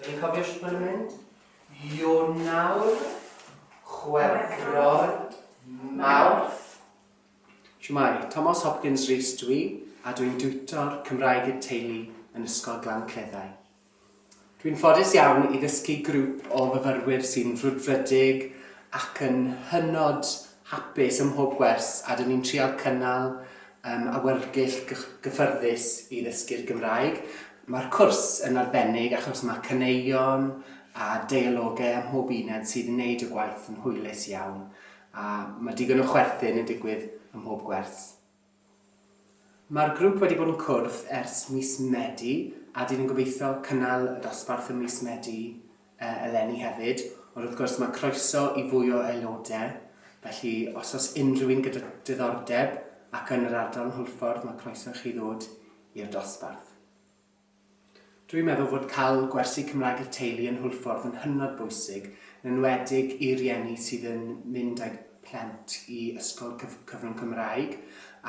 Dyn ni'n cofio sut mae'n mynd? Ionawr, Chwefror, Mawrth. Shwmai, Tomos Hopkins Rees dwi, a dwi'n diwtor Cymraeg i'r teulu yn Ysgol Glan Cleddau. Dwi'n ffodus iawn i ddysgu grŵp o fyfyrwyr sy'n frwdfrydig ac yn hynod hapus ym mhob gwers a dyn ni'n trial cynnal um, awyrgylch gyffyrddus i ddysgu'r Gymraeg. Mae'r cwrs yn arbennig achos mae caneuon a deialogau ym mhob uned sydd yn gwneud y gwaith yn hwylus iawn a mae digon o chwerthin yn digwydd ym mhob gwers. Mae'r grŵp wedi bod yn cwrdd ers mis Medi a dyn ni'n gobeithio cynnal y dosbarth ym mis Medi uh, eleni hefyd, ond wrth gwrs mae croeso i fwy o aelodau, felly os os unrhyw un gyda diddordeb ac yn yr ardal yn Hwlffordd mae croeso i chi ddod i'r dosbarth. Dw i'n meddwl fod cael gwersi Cymraeg i'r teulu yn Hwlffordd yn hynod bwysig, yn enwedig i rieni sydd yn mynd â'u plant i ysgol cyf cyfrwng Cymraeg,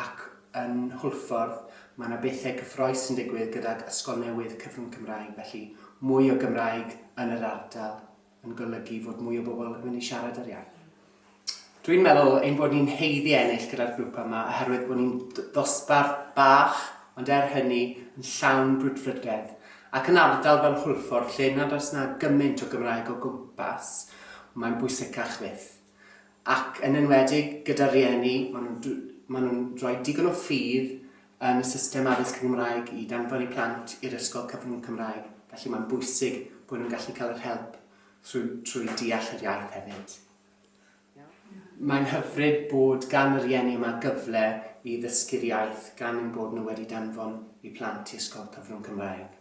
ac yn Hwlffordd mae yna bethau cyffroes yn digwydd gydag ysgol newydd cyfrwng Cymraeg, felly mwy o Gymraeg yn yr ardal yn golygu fod mwy o bobl yn mynd i siarad yr iaith. Dwi'n meddwl ein bod ni'n heiddi ennill gyda'r grŵp yma oherwydd bod ni'n ddosbarth bach, ond er hynny yn llawn brwdfrydedd, ac yn ardal fel Hwlffordd lle nad oes na gymaint o Gymraeg o gwmpas, mae'n bwysicach fyth. Ac yn enwedig gyda rhieni, maen nhw'n, maen nhw'n rhoi digon o ffydd yn y system addysg yn Gymraeg i danfon eu plant i'r ysgol cyfrwng Cymraeg, felly mae'n bwysig bod nhw'n gallu cael yr help trwy, trwy deall yr iaith hefyd. Mae'n hyfryd bod gan yr ienni yma gyfle i ddysgu'r iaith gan ein bod nhw wedi danfon eu plant i ysgol cyfrwng Cymraeg.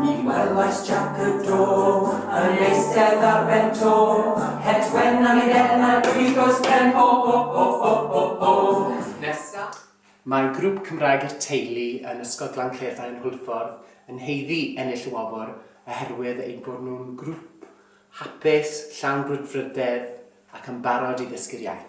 Ni welais Jac y Do yn eistedd ar ben to, het wen am ei ben ar brig oes ben ho ho ho ho ho ho. Nesa. Mae grŵp Cymraeg i'r Teulu yn Ysgol Glan Cleddau yn Hwlffordd yn haeddu ennill y wobr oherwydd eu bod nhw'n grŵp hapus, llawn brwdfrydedd ac yn barod i ddysgu'r iaith.